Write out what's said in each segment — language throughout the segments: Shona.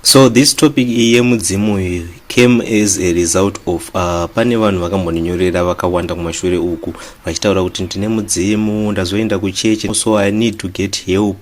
So this topic iyi yemudzimu iyi came as a result of uh, pane vanhu vakambondinyorera vakawanda kumashure uku vachitaura kuti ndine mudzimu ndazoenda kuchechi so i need to get help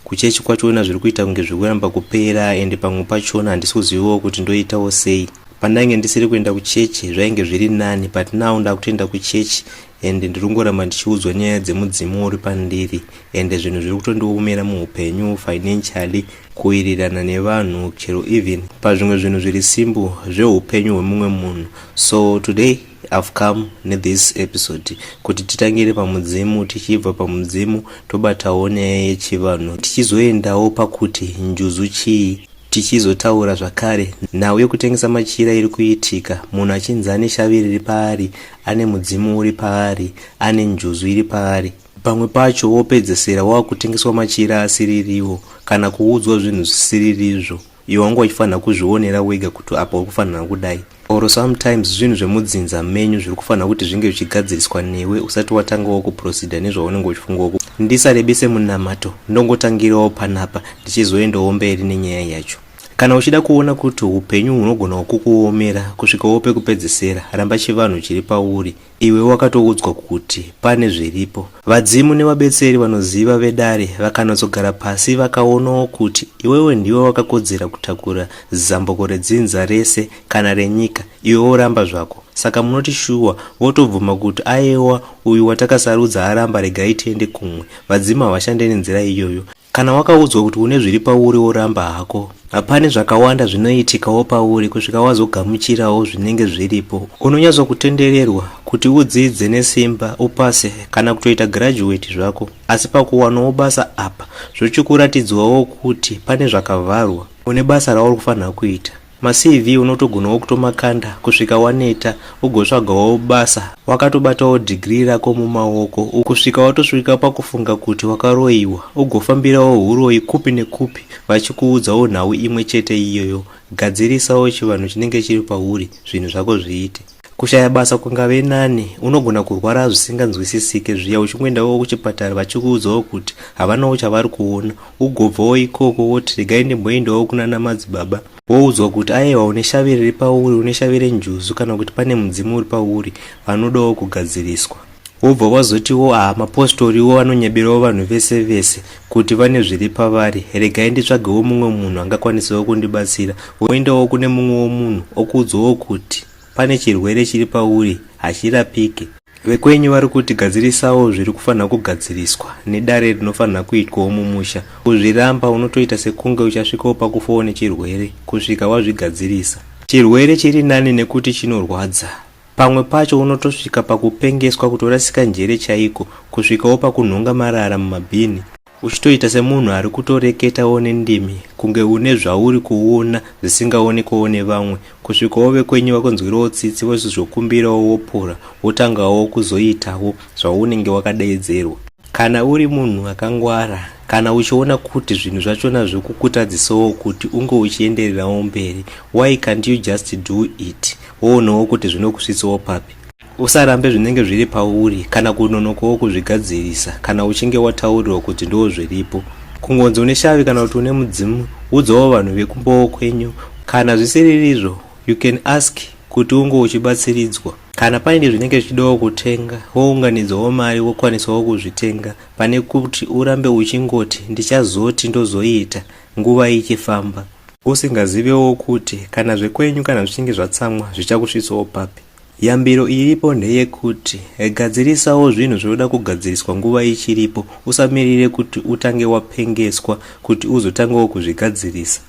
kuchechi kwachona zviri kuita kunge zviri kuramba kupera ende pamwe pachona handisi kuzivawo kuti ndoitawo sei pandainge ndisiri kuenda kuchechi zvainge zviri nani but now ndakutoenda kuchechi ende ndiri kungoramba ndichiudzwa nyaya dzemudzimu uri pandiri ende zvinhu zviri kutondiomera muupenyu financially kuwirirana nevanhu chero even pazvimwe zvinhu zviri simbu zveupenyu hwemumwe munhu so today i've come nethis episode kuti titangire pamudzimu tichibva pamudzimu tobatawo nyaya yechivanhu tichizoendawo pakuti njuzu chii tichizotaura zvakare nhau yekutengesa machira iri kuitika munhu achinzi ane shavi riri paari ane mudzimu uri paari ane njuzu iri paari pamwe pacho wopedzesera wava kutengeswa machira asiririwo kana kuudzwa zvinhu zvisiririzvo iwe wanga uchifanira kuzvionera wega kuti apa uri kufanira kudai or sometimes zvinhu zvemudzinza menyu zviri kufanira kuti zvinge zvichigadziriswa newe usati watangawo kuproceda nezvaunenge uchifungawo ndisarebese munamato ndongotangirawo panapa ndichizoendawo mberi nenyaya yacho Kana uchida kuona kuti upenyu hunogona kukuomera kusvikawo pekupedzisira, ramba chivanhu chiri pauri. Iwe wakatoudzwa kuti pane zviripo. Vadzimu nevabetseri vanoziva vedare vakanotsogara pasi vakaonawo kuti iwewe ndiwe wakakodzera kutakura zambuko redzinza rese kana renyika, iwe woramba zvako. Saka munoti shuwa votobvuma kuti ayewa uyu watakasarudza aramba regai tiende kumwe. Vadzimu havashande nenzira iyoyo. Kana wakaudzwa kuti une zviri pauri woramba hako, hapane zvakawanda zvinoitikawo pauri kusvika wazogamuchirawo zvinenge zviripo. Unonyatsokutendererwa kuti udzidze nesimba, upase, kana kutoita girajuweti zvako, asi pakuwanawo basa apa zvochikuratidzwawo kuti pane zvakavharwa, une basa rauri kufanira kuita. MaCV unotogonawo kutomakanda kusvika waneta ugotsvagawo basa wakatobatawo degree rako mumaoko kusvika watosvika pakufunga kuti wakaroiwa ugofambirawo huroyi kupi nekupi vachikuudzawo nhau imwe chete iyoyo. Gadzirisawo chivanhu chinenge chiri pauri zvinhu zvako zviite. Kushaya basa kungave nani, unogona kurwara zvisinganzwisisike zviya uchingoendawo kuchipatara vachikuudzawo kuti havanawo chavari kuona, ugobvawo ikoko woti regai ndimboendawo kunana madzibaba woudzwa kuti ayewa une shavi riri pauri, une shavi renjuzu kana kuti pane mudzimu uri pauri, vanodawo kugadziriswa. Wobva wazotiwo haa mapostoriwo anonyeberawo vanhu vese vese kuti vane zviri pavari, regai nditsvagewo mumwe munhu angakwanisawo kundibatsira. Woendawo kune mumwewo munhu okuudzawo kuti pane chirwere chiri pauri hachirapike. Vekwenyu vari kuti gadzirisawo zviri kufanira kugadziriswa nedare rinofanira kuitwawo mumusha. Kuzviramba unotoita sekunge uchasvikawo pakufawo nechirwere kusvika wazvigadzirisa. Chirwere chiri nani nekuti chinorwadza. Pamwe pacho unotosvika pakupengeswa kutorasika njere chaiko kusvikawo pakunhonga marara mumabhini uchitoita semunhu ari kutoreketawo nendimi kunge une zvauri kuona zvisingaonekwawo nevamwe kusvikawo vekwenyu vakunzwirawo tsitsi vochizokumbirawo wopura wotangawo kuzoitawo zvaunenge wakadaidzerwa kana uri munhu akangwara kana uchiona kuti zvinhu zvachona zvokukutadzisawo kuti unge uchiendererawo mberi why can't you just do it Woonawo kuti zvinokusvitsawo papi. Usarambe zvinenge zviri pauri kana kunonokawo kuzvigadzirisa kana uchinge wataurirwa kuti ndoo zviripo. Kungonzi une shavi kana kuti une mudzimu, udzawo vanhu vekumbowo kwenyu. Kana zvisiririzvo, you can ask kuti unge uchibatsiridzwa. Kana paine zvinenge zvichidawo kutenga, wounganidzawo mari wokwanisawo kuzvitenga pane kuti urambe uchingoti ndichazoti ndozoita. nguva ichifamba. Usingazivewo kuti kana zvekwenyu kana zvichinge zvatsamwa zvichakusvitsawo papi. Yambiro iripo ndeyekuti gadzirisawo zvinhu zvinoda kugadziriswa nguva ichiripo, usamirire kuti utange wapengeswa kuti uzotangawo kuzvigadzirisa.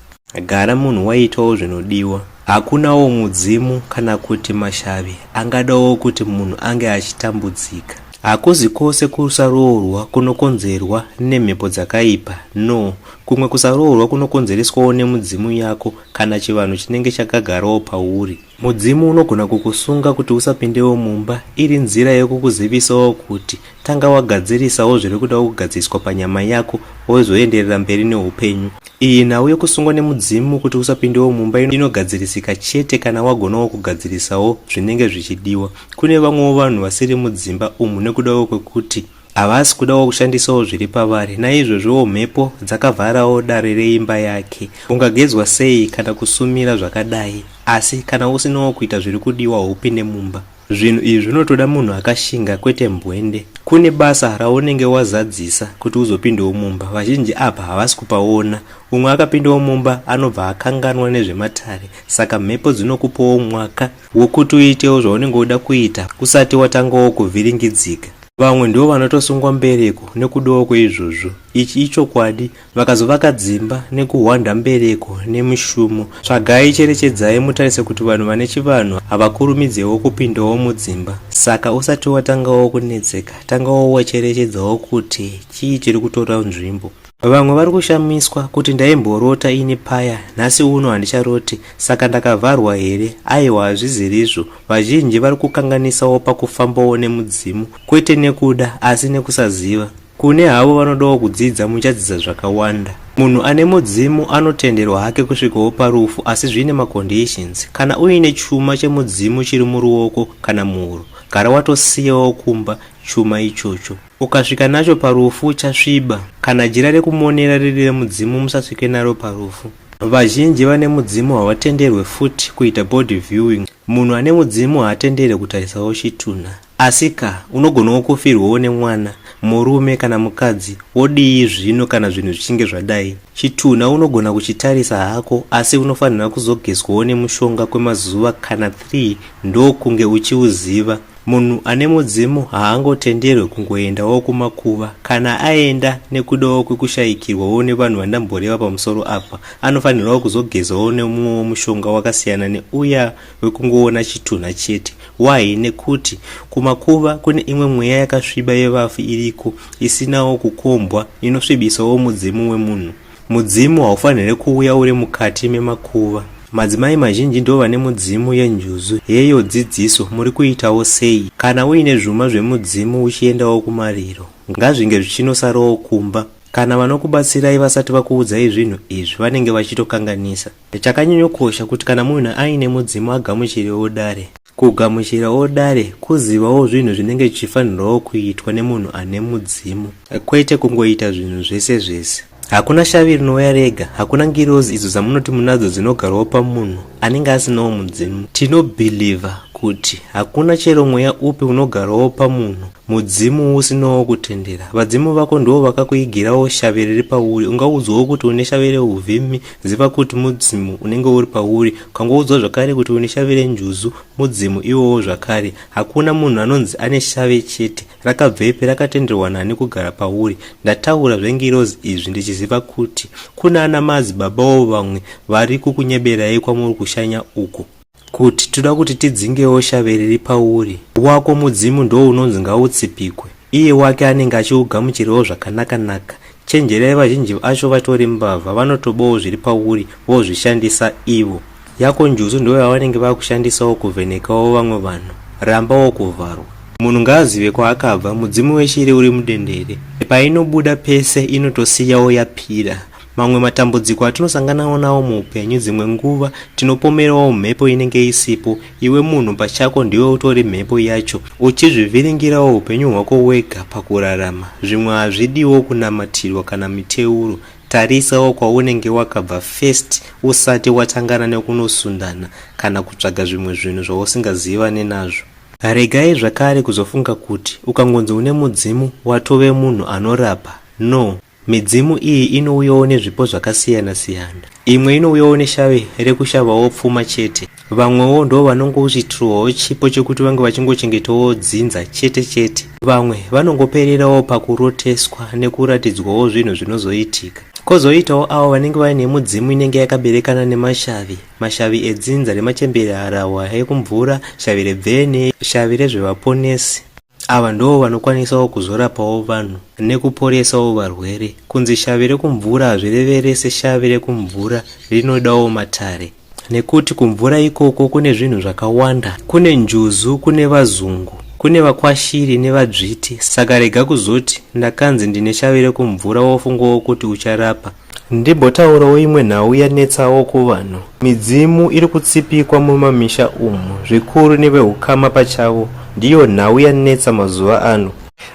Gara munhu waitawo zvinodiwa. Hakunawo mudzimu kana kuti mashavi angadawo kuti munhu ange achitambudzika. Hakuzi kose kusaroorwa kunokonzerwa nemhepo dzakaipa. No. Kumwe kusaroorwa kunokonzereswawo nemudzimu yako kana chivanhu chinenge chakagarawo pauri. Mudzimu unogona kukusunga kuti usapindewo mumba iri nzira yekukuzivisawo kuti tanga wagadzirisawo zviri kuda kugadziriswa panyama yako wozoenderera mberi neupenyu. Iyi nhau yekusungwa nemudzimu kuti usapindewo mumba inogadzirisika chete kana wagonawo kugadzirisawo zvinenge zvichidiwa. kune vamwewo vanhu vasiri mudzimba umu nekudawo kwekuti havasi kudawo kushandisawo zviri pavari naizvozvowo mhepo dzakavharawo dare reimba yake ungagezwa sei kana kusumira zvakadai asi kana usinawo kuita zviri kudiwa upinde mumba zvinhu izvi zvinotoda munhu akashinga kwete mbwende kune basa raunenge wazadzisa kuti uzopindawo mumba vazhinji apa havasi kupaona umwe akapindawo mumba anobva akanganwa nezvematare saka mhepo dzinokupawo mwaka Wokuti uitewo zvaunenge uda kuita usati watangawo kuvhiringidzika. Vamwe ndivo vanotosungwa mbereko nekudawo kweizvozvo. Ichi ichokwadi. Vakazovaka dzimba nekuhwanda mbereko nemishumo. Tsvagai, cherechedzai mutarise kuti vanhu vane chivanhu havakurumidzewo kupindawo mudzimba. Saka usati watangawo kunetseka, tangawo wacherechedzawo kuti chii chiri kutora nzvimbo. Vamwe vari kushamiswa kuti ndaimborota ini paya nhasi uno handicharoti saka ndakavharwa here aiwa hazvizirizvo vazhinji vari kukanganisawo pakufambawo nemudzimu kwete nekuda asi nekusaziva kune havo vanodawo kudzidza muchadzidza zvakawanda munhu ane mudzimu anotenderwa hake kusvikawo parufu asi zviine maconditions kana uine chuma chemudzimu chiri muruoko kana muhuro gara watosiyawo kumba chuma ichocho Ukasvika nacho parufu uchasviba. Kana jira rekumonera riri remudzimu musasvike naro parufu. Vazhinji vane mudzimu havatenderwe futi kuita body viewing. Munhu ane mudzimu haatenderwe kutarisawo chitunha. Asi ka, unogonawo kufirwawo nemwana, murume kana mukadzi, wodii zvino kana zvinhu zvichinge zvadai? Chitunha unogona kuchitarisa hako asi unofanirwa kuzogezwawo nemushonga kwemazuva kana 3 ndokunge uchiuziva. Munhu ane mudzimu haangotenderwe kungoendawo kumakuva. Kana aenda nekudawo kwekushayikirwawo nevanhu vandamboreva pamusoro apa, anofanirwawo kuzogezawo nemumwewo mushonga wakasiyana neuya wekungoona chitunha chete. Why? Nekuti kumakuva kune imwe mweya yakasviba yevafi iriko isinawo kukombwa inosvibisawo mudzimu wemunhu. Mudzimu haufanire kuuya uri mukati memakuva. Madzimai mazhinji ndivo vane mudzimu yenjuzu. Heyo dzidziso, muri kuitawo sei? Kana uine zvuma zvemudzimu uchiendawo kumariro, ngazvinge zvichinosarawo kumba. Kana vanokubatsirai vasati vakuudzai zvinhu izvi vanenge vachitokanganisa. Chakanyanyokosha kuti kana munhu aine mudzimu agamuchirewo dare. Kugamuchirawo dare, kuzivawo zvinhu zvinenge zvichifanirwawo kuitwa nemunhu ane mudzimu, kwete kungoita zvinhu zvese zvese. Hakuna shavi rinouya rega, hakuna ngirozi idzo dzamunoti munadzo dzinogarwawo pamunhu anenge asinawo mudzimu. Tinobhilivha kuti hakuna chero mweya upi unogarwawo pamunhu mudzimu usinawo kutendera. Vadzimu vako ndivo vakakuigirawo shavi riri pauri. Ungaudzwawo kuti une shavi reuvhimi, Ziva kuti mudzimu unenge uri pauri. Ukangoudzwa zvakare kuti une shavi renjuzu, mudzimu iwowo zvakare. Hakuna munhu anonzi ane shavi chete. Rakabvepi? Rakatenderwa nani kugara pauri? Ndataura zvengirozi izvi ndichiziva kuti kuna ana madzibabawo vamwe vari kukunyeberai kwamuri kushanya uko. Kuti toda kuti tidzingewo shavi riri pauri. Wako mudzimu ndoo unonzi ngautsipikwe. Iye wake anenge achiugamuchirawo zvakanaka naka. Chenjerai vazhinji vacho vatori mbavha vanotobawo zviri pauri vozvishandisa ivo. Yako njuzu ndoo yavanenge vakushandisawo kuvhenekawo vamwe vanhu. Rambawo kuvharwa. Munhu ngaazive kwaakabva, mudzimu weshiri uri mudendere. Painobuda pese inotosiyawo yapira. Mamwe matambudziko atinosanganawo nawo muupenyu dzimwe nguva tinopomerawo mhepo inenge isipo, iwe munhu pachako ndiwe utori mhepo yacho uchizvivhiringirawo upenyu hwako wega pakurarama. Zvimwe hazvidiwo kunamatirwa kana miteuro, tarisawo kwaunenge wakabva first usati watangana nekunosundana kana kutsvaga zvimwe zvinhu zvausingazivane nazvo. Regai zvakare kuzofunga kuti ukangonzi une mudzimu watove munhu anorapa, no! Midzimu iyi inouyawo nezvipo zvakasiyana siyana. Imwe inouyawo neshave rekushavawo pfuma chete. Vamwewo ndo vanongouchitirwawo chipo chekuti vange vachingochengetawo dzinza chete chete. Vamwe vanongopererawo pakuroteswa nekuratidzwawo zvinhu zvinozoitika. Kozoitawo avo vanenge vaine mudzimu inenge yakaberekana nemashavi. Mashavi edzinza remachembere, harahwa ekumvura, shavi rebvene, shavi rezvevaponesi. Ava ndoo vanokwanisawo kuzorapawo vanhu nekuporesawo varwere. Kunzi shavi rekumvura hazvireve rese shavi rekumvura rinodawo matare nekuti kumvura ikoko kune zvinhu zvakawanda, kune njuzu, kune vazungu, kune vakwashiri nevadzviti saka rega kuzoti ndakanzi ndine shavi rekumvura wofungawo kuti ucharapa. Ndimbotaurawo imwe nhau yanetsawo kuvanhu. Midzimu iri kutsipikwa mumamisha umu zvikuru nevehukama pachavo ndiyo nhau yanetsa mazuva ano.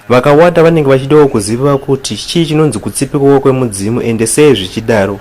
Vakawanda vanenge vachidawo kuziva kuti chii chinonzi kutsipikwa kwemudzimu ende sei zvichidaro.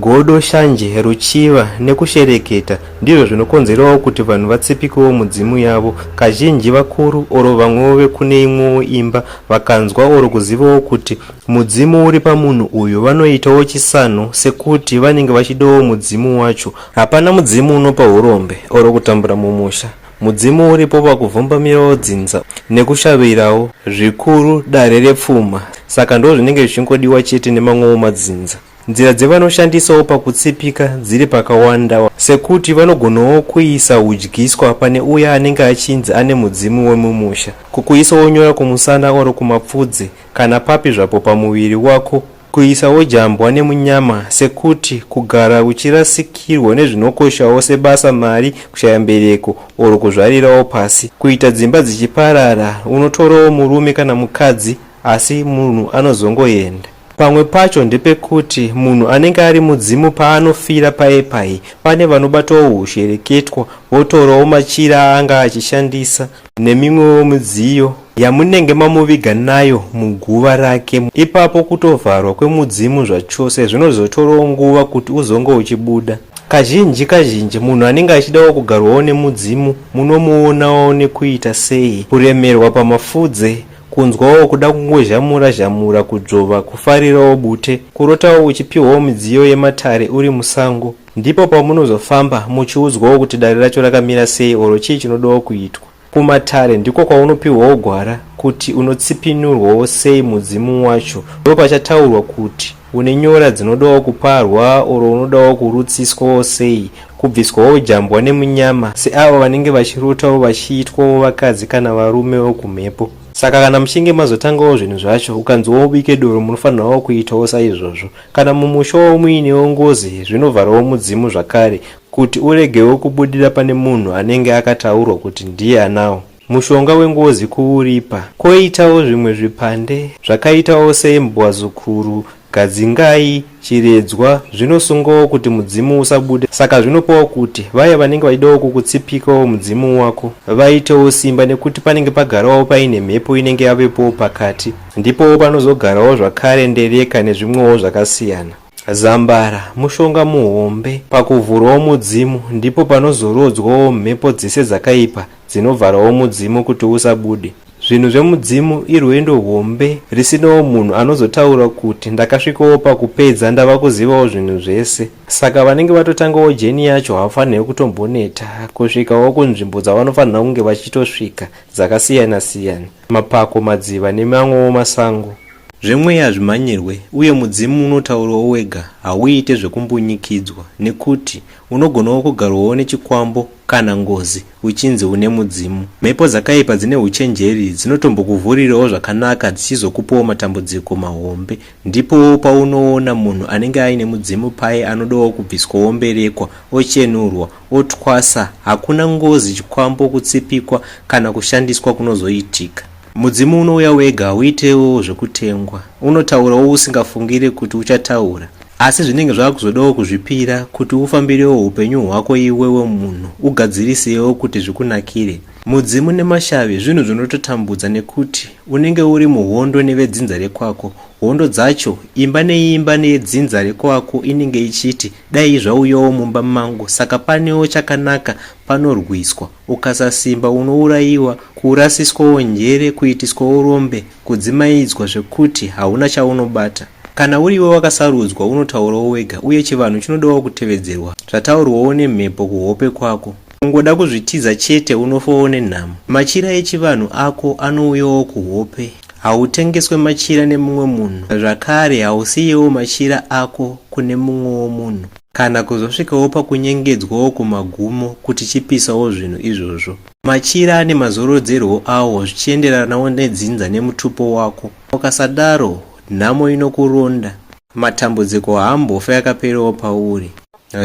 Godo, shanje, ruchiva nekushereketa ndizvo zvinokonzerawo kuti vanhu vatsipikewo mudzimu yavo. Kazhinji vakuru or vamwewo vekune imwewo imba vakanzwa or kuzivawo kuti Mudzimu uri pamunhu uyu vanoitawo chisano sekuti vanenge vachidawo mudzimu wacho. Hapana mudzimu unopa hurombe or kutambura mumusha. Mudzimu uripo pakuvhumbamirawo dzinza nekushavirawo zvikuru dare repfuma saka ndozvinenge zvichingodiwa chete nemamwewo madzinza. Nzira dzevanoshandisawo pakutsipika dziri pakawanda sekuti vanogonawo kuisa hudyiswa pane uya anenge achinzi ane mudzimu wemumusha, kukuisawo nyora kumusana or kumapfudzi kana papi zvapo pamuviri wako, kuisawo jambwa nemunyama sekuti kugara uchirasikirwa nezvinokoshawo sebasa, mari, kushaya mbereko or kuzvarirawo pasi, kuita dzimba dzichiparara, unotorawo murume kana mukadzi asi munhu anozongoenda. Pamwe pacho ndepekuti munhu anenge ari mudzimu paanofira paye paye pane vanobatawo hushereketwa votorawo machira aanga achishandisa nemimwewo midziyo yamunenge mamuviga nayo muguva rake. Ipapo kutovharwa kwemudzimu zvachose zvinozotorawo nguva kuti uzonge uchibuda. Kazhinji kazhinji munhu anenge achidawo kugarwawo nemudzimu munomuonawo nekuita sei? Kuremerwa pamafudze, kunzwawo kuda kungozhamura zhamura, kudzvova, kufarirawo bute, kurotawo uchipiwawo midziyo yematare uri musango. Ndipo pamunozofamba muchiudzwawo kuti dare racho rakamira sei or chii chinodawo kuitwa. Kumatare ndiko kwaunopihwawo gwara kuti unotsipinurwawo sei mudzimu wacho ndopachataurwa kuti une nyora dzinodawo kuparwa or unodawo kurutsiswawo sei kubviswawo jambwa nemunyama seavo vanenge vachirotawo vachiitwawo vakadzi kana varume vokumhepo. Saka kana muchinge mazotangawo zvinhu zvacho ukanziwo ubike doro munofanirawo kuitawo saizvozvo. Kana mumusha wavo muinewo ngozi, zvinovharawo mudzimu zvakare kuti uregewo kubudira pane munhu anenge akataurwa kuti ndiye anawo. Mushonga wengozi kuuripa. Koitawo zvimwe zvipande zvakaitawo seimbwazukuru, gadzingai, chiredzwa zvinosungawo kuti mudzimu usabude saka zvinopawo kuti vaya vanenge vachidawo kukutsipikawo mudzimu wako vaitewo simba nekuti panenge pagarawo paine mhepo inenge yavepowo pakati. Ndipo panozogarawo zvakare ndereka nezvimwewo zvakasiyana. Zambara mushonga muhombe pakuvhurawo mudzimu ndipo panozorodzwawo mhepo dzese dzakaipa dzinovharawo mudzimu kuti usabude. Zvinhu zvemudzimu irwendo hombe risinawo munhu anozotaura kuti ndakasvikawo pakupedza ndava kuzivawo zvinhu zvese. Saka vanenge vatotangawo jeni yacho havafanirwe kutomboneta kusvikawo kunzvimbo dzavanofanirwa kunge vachitosvika dzakasiyana siyana. mapako, madziva nemamwewo masango. Zvemweya hazvimhanyirwe, uye mudzimu unotaurawo wega, hauite zvekumbunyikidzwa, nekuti unogonawo kugarwawo nechikwambo kana ngozi uchinzi une mudzimu. Mhepo dzakaipa dzine uchenjeri dzinotombokuvhurirawo zvakanaka dzichizokupawo matambudziko mahombe. Ndipowo paunoona munhu anenge aine mudzimu paye anodawo kubviswawo mberekwa, ochenurwa, Otwasa, Hakuna ngozi, chikwambo, kutsipikwa kana kushandiswa kunozoitika. Mudzimu unouya wega, hauitewo zvekutengwa. Unotaurawo usingafungire kuti uchataura. Asi zvinenge zvava kuzodawo kuzvipira kuti ufambirewo upenyu hwako iwewe munhu, ugadzirisewo kuti zvikunakire. Mudzimu nemashavi zvinhu zvinototambudza nekuti unenge uri muhondo nevedzinza rekwako. Hondo dzacho, imba neimba yedzinza rekwako inenge ichiti Dai zvauyawo mumba mangu saka panewo chakanaka panorwiswa ukasasimba unourayiwa kurasiswawo njere kuitiswawo rombe kudzimaidzwa zvekuti hauna chaunobata kana uriwe wakasarudzwa unotaurawo wega uye chivanhu chinodawo kutevedzerwa zvataurwawo nemhepo kuhope kwako Ungoda kuzvitiza chete unofa one nhamo. Machira echivanhu ako anouyawo kuhope. Hautengeswe machira nemumwe munhu zvakare hausiyewo machira ako kune mumwewo munhu kana kuzosvikawo pakunyengedzwawo kumagumo kuti chipisawo zvinhu izvozvo. Machira ane mazorodzerwo awo zvichienderanawo nedzinza nemutupo wako. Ukasadaro nhamo inokuronda. Matambudziko haambofe akaperewo pauri.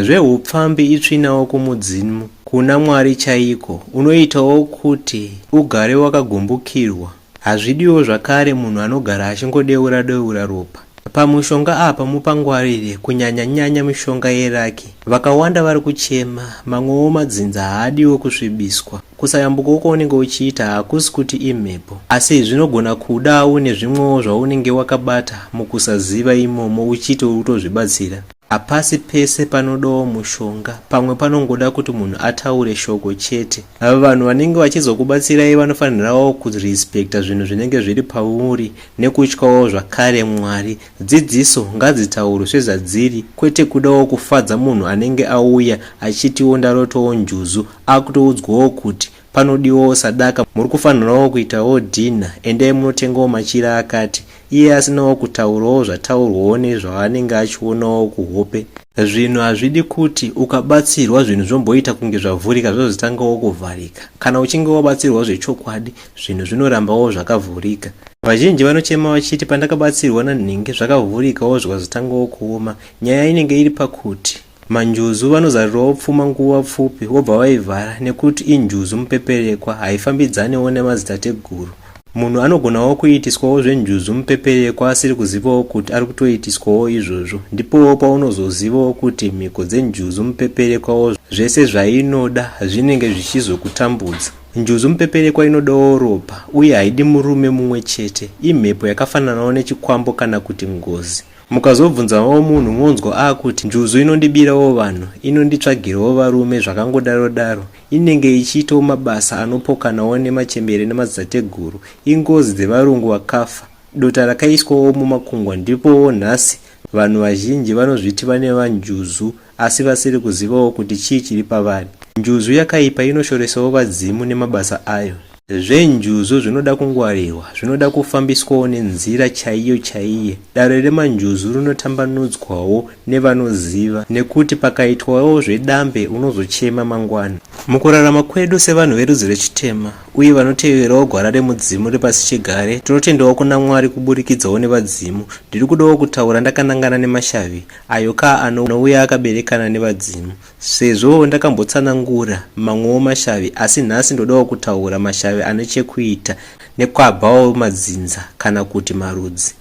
Zvehupfambi itsvinawo kumudzimu, kuna Mwari chaiko. Unoitawo kuti ugare wakagumbukirwa. Hazvidiwo zvakare munhu anogara achingodeura deura ropa. Pamushonga apa mupangwarire kunyanya nyanya mishonga yeraki. Vakawanda vari kuchema, mamwewo madzinza haadiwo kusvibiswa. Kusayambuka uko unenge uchiita hakusi kuti imhepo, asi zvinogona kuda une zvimwewo zvaunenge wakabata mukusaziva imomo uchiti uri kutozvibatsira. Hapasi pese panodawo mushonga, pamwe panongoda kuti munhu ataure shoko chete. Ava vanhu vanenge vachizokubatsirai vanofanirawo kurespecta zvinhu zvinenge zviri pauri nekutyawo zvakare Mwari. Dzidziso ngadzitaurwe sezvadziri kwete kudawo kufadza munhu anenge auya achitiwo ndarotowo njuzu Akutoudzwawo kuti panodiwawo sadaka muri kufanirawo kuitawo dinner endai munotengawo machira akati iye asinawo kutaurawo zvataurwawo nezvaanenge achionawo kuhope. Zvinhu hazvidi kuti ukabatsirwa zvinhu zvomboita kunge zvavhurika zvozotangawo kuvharika. Kana uchinge wabatsirwawo zvechokwadi zvinhu zvinorambawo zvakavhurika. Vazhinji vanochema vachiti pandakabatsirwa nanhingi zvakavhurikawo zvikazotangawo kuoma. Nyaya inenge iri pakuti. Manjuzu vanozarirawo pfuma nguva pfupi vobva vaivhara nekuti injuzu mupeperekwa haifambidzanewo nemadzitateguru. Munhu anogonawo kuitiswawo zvenjuzu mupeperekwa asiri kuzivawo kuti ari kutoitiswawo izvozvo. Ndipowo paunozozivawo kuti mhiko dzenjuzu mupeperekwawo zvese zvainoda zvinenge zvichizokutambudza. Njuzu mupeperekwa inodawo ropa uye haidi murume mumwe chete. Imhepo yakafananawo nechikwambo kana kuti ngozi. Mukazobvunzawo munhu monzwa akuti njuzu inondibirawo vanhu, inonditsvagirawo varume zvakangodaro daro, inenge ichiitawo mabasa anopokanawo nemachembere nemadzitateguru, ingozi dzevarungu vakafa, dota rakaiswawo mumakungwa ndipowo nhasi vanhu vazhinji vanozviti vaneva njuzu asi vasiri kuzivawo kuti chii chiri pavari. Njuzu yakaipa inoshoresawo vadzimu nemabasa ayo. Zvenjuzu zvinoda kungwarirwa, zvinoda kufambiswawo nenzira chaiyo chaiye. Dare remanjuzu rinotambanudzwawo nevanoziva nekuti pakaitwawo zvedambe unozochema mangwana. Mukurarama kwedu sevanhu verudzi rechitema uye vanoteverawo gwara remudzimu repasichigare, tinotendawo kuna Mwari kuburikidzawo nevadzimu. Ndiri kudawo kutaura ndakanangana nemashavi, ayo ka anouya akaberekana nevadzimu sezvo ndakambotsanangura mamwewo mashavi asi nhasi ndodawo kutaura mashavi ane chekuita nekwabvawo madzinza kana kuti marudzi.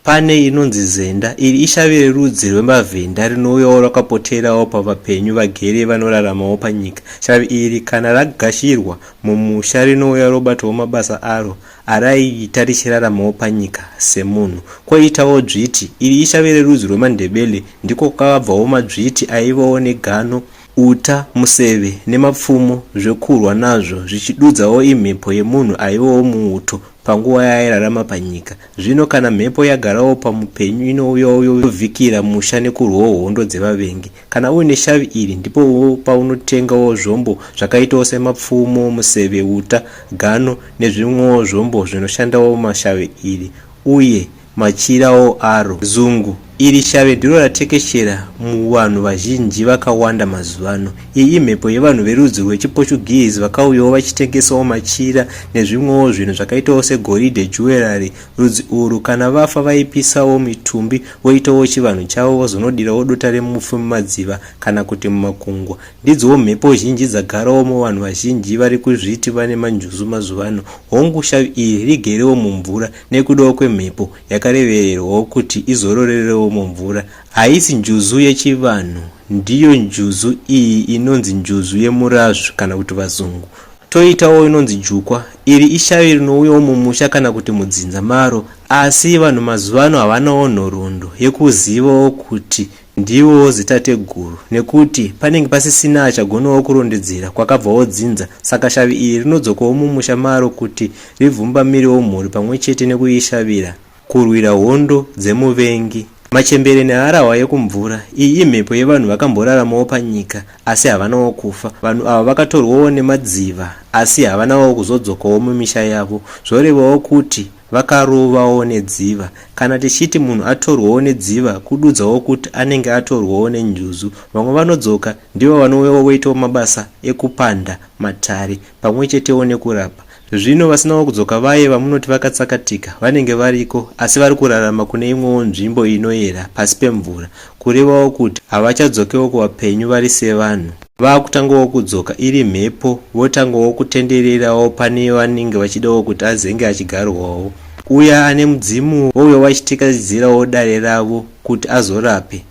Pane inonzi zenda, iri ishavi rerudzi rwemavhenda rinouyawo rakapoterawo pavapenyu vagere vanoraramawo panyika. Shavi iri kana ragashirwa mumusha rinouya robatawo mabasa aro Arai ta richiraramawo panyika semunhu. Koitawo dzviti, iri ishave rerudzi rwemaNdebele ndiko kwakabvawo madzviti aivawo negano, uta, museve nemapfumo zvekurwa nazvo zvichidudzawo imhepo yemunhu aivawo muuto panguva yaairarama panyika. Zvino kana mhepo yagarawo pamupenyu inouyawo yovhikira musha nekurwawo hondo dzevavengi. Kana uine shavi iri ndipo paunotengawo zvombo zvakaitawo semapfumo, museve, uta, gano nezvimwewo zvombo zvinoshandawo mashave iri uye machirawo aro. Zungu, Iri shave ndiro ratekeshera muvanhu vazhinji vakawanda mazuvano. Iyi imhepo yevanhu verudzi rwechiPortuguese vakauyawo vachitengesawo machira nezvimwewo zvinhu zvakaitawo segoridhe, jewellery, Rudzi urwu kana vafa vaipisawo mitumbi voitawo chivanhu chavo vozonodirawo dota remufi mumadziva kana kuti mumakungwa. Ndidzo mhepo zhinji dzagarawo muvanhu vazhinji vari kuzviti vane manjuzu mazuva ano. Hongu, shavi iri rigerewo mumvura nekudawo kwemhepo yakarevererwawo kuti izororerewo mumvura. Haisi njuzu yechivanhu, ndiyo njuzu iyi inonzi njuzu yemurazvu kana kuti vazungu Toitawo inonzi jukwa. Iri ishavi rinouyawo mumusha kana kuti mudzinza maro asi vanhu mazuvano havanawo nhoroondo yekuzivawo kuti ndivowo zitateguru nekuti panenge pasisina achagonawo kurondedzera kwakabvawo dzinza saka shavi iri rinodzokawo mumusha maro kuti ribvumbamirewo mhuri pamwe chete nekuishavira Kurwira hondo dzemuvengi. Machembere neharahwa yekumvura. Iyi imhepo yevanhu vakamboraramawo panyika asi havanawo kufa. Vanhu ava vakatorwawo nemadziva asi havanawo kuzodzokawo mumisha yavo. Zvorevawo kuti vakarovawo nedziva. Kana tichiti munhu atorwawo nedziva kududzawo kuti anenge atorwawo nenjuzu. Vamwe vanodzoka ndivo vanouyawo voitawo mabasa ekupanda matare pamwe chetewo nekurapa. Zvino vasinawo kudzoka vaye vamunoti vakatsakatika vanenge variko asi vari kurarama kune imwewo nzvimbo inoyera pasi pemvura, kurevawo kuti havachadzokewo kuvapenyu vari sevanhu. Vakutangawo kudzoka iri mhepo votangawo kutendererawo pane vanenge vachidawo kuti azenge achigarwawo. Uya ane mudzimu wouyawo achitekatedzerawo dare ravo kuti azorape.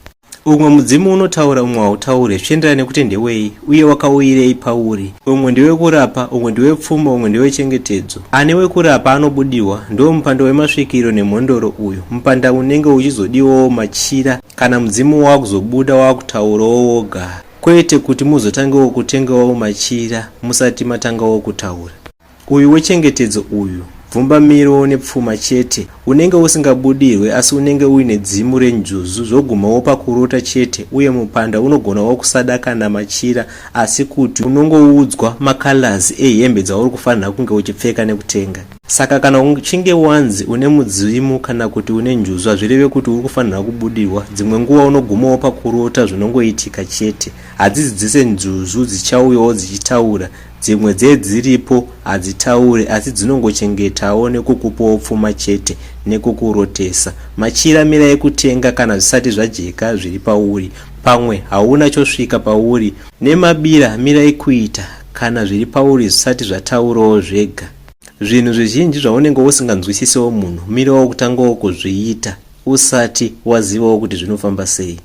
Umwe mudzimu unotaura umwe hautaure zvichienderana nekuti ndewei uye wakauyirei pauri. Umwe ndewekurapa, umwe ndewepfuma, umwe ndewechengetedzo. Ane wekurapa anobudirwa, ndiwo mupanda wemasvikiro nemhondoro uyu. Mupanda unenge uchizodiwawo machira kana mudzimu wakuzobuda wakutaurawo woga kwete kuti muzotangewo kutengawo machira musati matangawo kutaura. Uyu wechengetedzo uyu bvumbamiro nepfuma chete unenge usingabudirwe asi unenge uine dzimu renjuzu zvoguma wopa kurota chete uye mupanda unogona wokusada kana machira asi kuti unongoudzwa macolors ehembe dzauri kufanira kunge uchipfeka nekutenga saka kana uchinge wanzi une mudzimu kana kuti une njuzu hazvireve kuti uri kufanira kubudirwa dzimwe nguva unoguma wopa kurota zvinongoitika chete hadzizidzise njuzu dzichauyawo dzichitaura Dzimwe dzedziripo hadzitaure asi dzinongochengetawo nekukupawo pfuma chete nekukurotesa. Machira mira yekutenga kana zvisati zvajeka zviri pauri. Pamwe hauna chosvika pauri. Nemabira mira ekuita kana zviri pauri zvisati zvataurawo zvega. Zvinhu zvizhinji zvaunenge usinganzwisisewo munhu mirawo kutangawo kuzviita usati wazivawo kuti zvinofamba sei.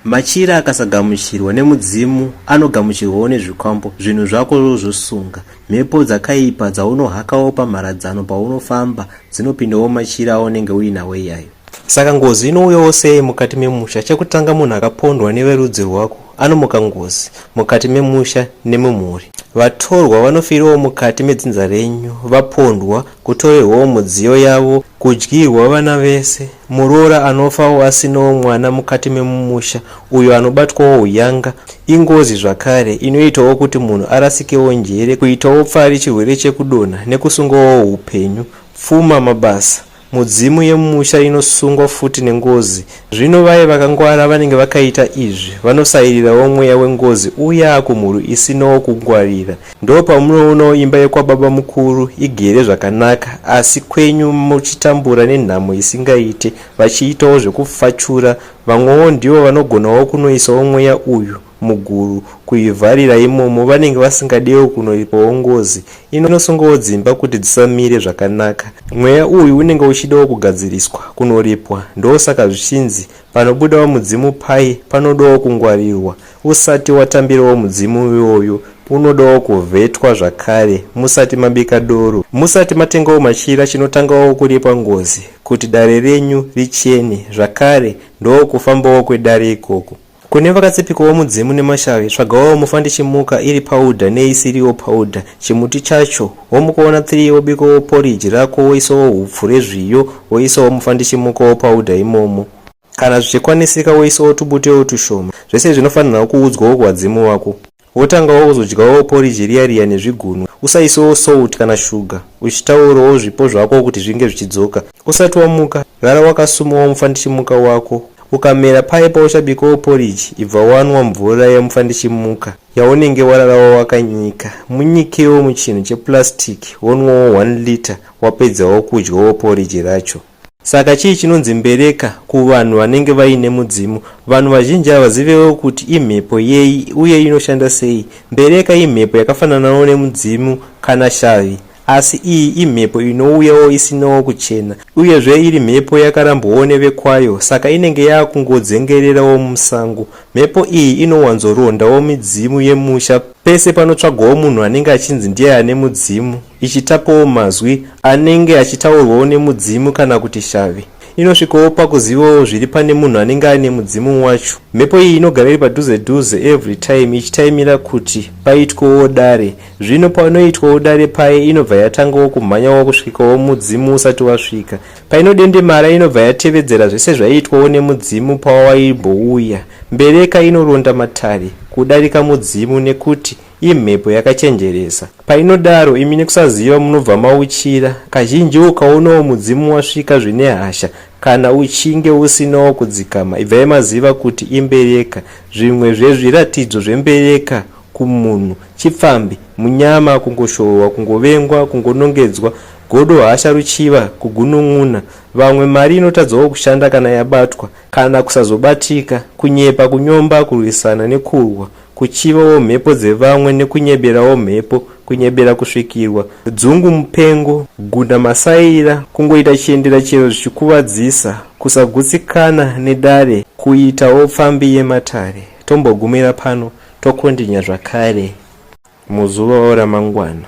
Machira akasagamuchirwa nemudzimu anogamuchirwawo nezvikwambo. Zvinhu zvako zvosunga. Mhepo dzakaipa dzaunohakawo pamharadzano paunofamba dzinopindawo machira aunenge uinawo iyayo. Saka ngozi inouyawo sei mukati memusha? Chekutanga munhu akapondwa neverudzi rwako anomuka ngozi mukati memusha nemumhuri. Vatorwa vanofirawo mukati medzinza renyu vapondwa, kutorerwawo mudziyo yavo, kudyirwa vana vese. Muroora anofawo asinawo mwana mukati memumusha uyo anobatwawo uyanga ingozi zvakare inoitawo kuti munhu arasikewo njere, kuitawo pfari, chirwere chekudonha nekusungawo upenyu, pfuma, mabasa. Mudzimu yemumusha inosungwa futi nengozi. Zvino vaye vakangwara vanenge vakaita izvi vanosairirawo mweya wengozi uya kumhuri isinawo kungwarira. Ndopamunoonawo imba yekwababamukuru igere zvakanaka asi kwenyu muchitambura nenhamo isingaite vachiitawo zvekufachura vamwewo ndivo vanogonawo kunoisawo mweya uyu muguru kuivharira imomo vanenge vasingadewo kunoipawo ngozi inosungawo dzimba kuti dzisamire zvakanaka mweya uyu unenge uchidawo kugadziriswa kunoripwa ndosaka zvichinzi Panobudawo mudzimu paye panodawo kungwarirwa usati watambirawo mudzimu iwoyo unodawo kuvhetwa zvakare musati mabika doro. Musati matengawo machira chinotangawo kuripa ngozi kuti dare renyu richene zvakare ndokufambawo kwedare ikoko. Kune vakatsipikawo mudzimu nemashavi tsvagawo mufandichimuka iri powder neisiriwo powder, chimuti chacho Womukoona three wobikawo porridge rako woisawo hupfu rezviyo woisawo mufandichimuka wopauda imomo. Kana zvichikwanisika woisawo tubutewo tushoma. Zvese zvinofanirwa kuudzwawo kuvadzimu vako. Wotangawo kuzodyawo porridge riya riya nezvigunwe. Usaisewo salt kana sugar uchitaurawo zvipo zvako kuti zvinge zvichidzoka. Usati wamuka, gara wakasumawo mufandichimuka wako. Ukamera paye pauchabikawo porridge ibva wanwa mvura yemufandichimuka. yaunenge wararawo wakanyika munyikewo muchinhu cheplastic wonwawo 1 liter wapedzawo kudyawo poriji racho saka chii chinonzi mbereka kuvanhu vanenge vaine mudzimu vanhu vazhinji havazivewo kuti imhepo yei uye inoshanda sei mbereka imhepo yakafananawo nemudzimu kana shavi Asi iyi imhepo inouyawo isinawo kuchena, uyezve iri mhepo yakarambwawo nevekwayo saka inenge yaakungodzengererawo musango. Mhepo iyi inowanzorondawo midzimu yemusha pese panotsvagwawo munhu anenge achinzi ndiye ane mudzimu, ichitapawo mazwi anenge achitaurwawo nemudzimu kana kuti shavi. Inosvikawo pakuzivawo zviri pane munhu anenge aine mudzimu wacho. Mhepo iyi inogara iri padhuze dhuze every time ichitaimira kuti paitwewo dare. Zvino paunoitwawo dare paye inobva yatangawo kumhanyawo kusvikawo mudzimu usati wasvika. Painodendemara inobva yatevedzera zvese zvaiitwawo nemudzimu pawaimbouya. Mbereka inoronda matare kudarika mudzimu nekuti imhepo yakachenjeresa. Painodaro imi nekusaziva munobva mauchira. Kazhinji ukaonawo mudzimu wasvika zvine hasha kana uchinge usinawo kudzikama ibvai maziva kuti imbereka. Zvimwe zvezviratidzo zvembereka kumunhu chipfambi munyama kungoshohwa kungovengwa kungonongedzwa godo hasha ruchiva kugunun'una vamwe mari inotadzawo kushanda kana yabatwa kana kusazobatika kunyepa kunyomba kurwisana nekurwa kuchivawo mhepo dzevamwe nekunyeberawo mhepo kunyebera kusvikirwa dzungu mupengo gunda masaira kungoita chiendera chero zvichikuvadzisa kusagutsikana nedare kuitawo pfambi yematare tombogumira pano Tokondinya zvakare muzuva ramangwana.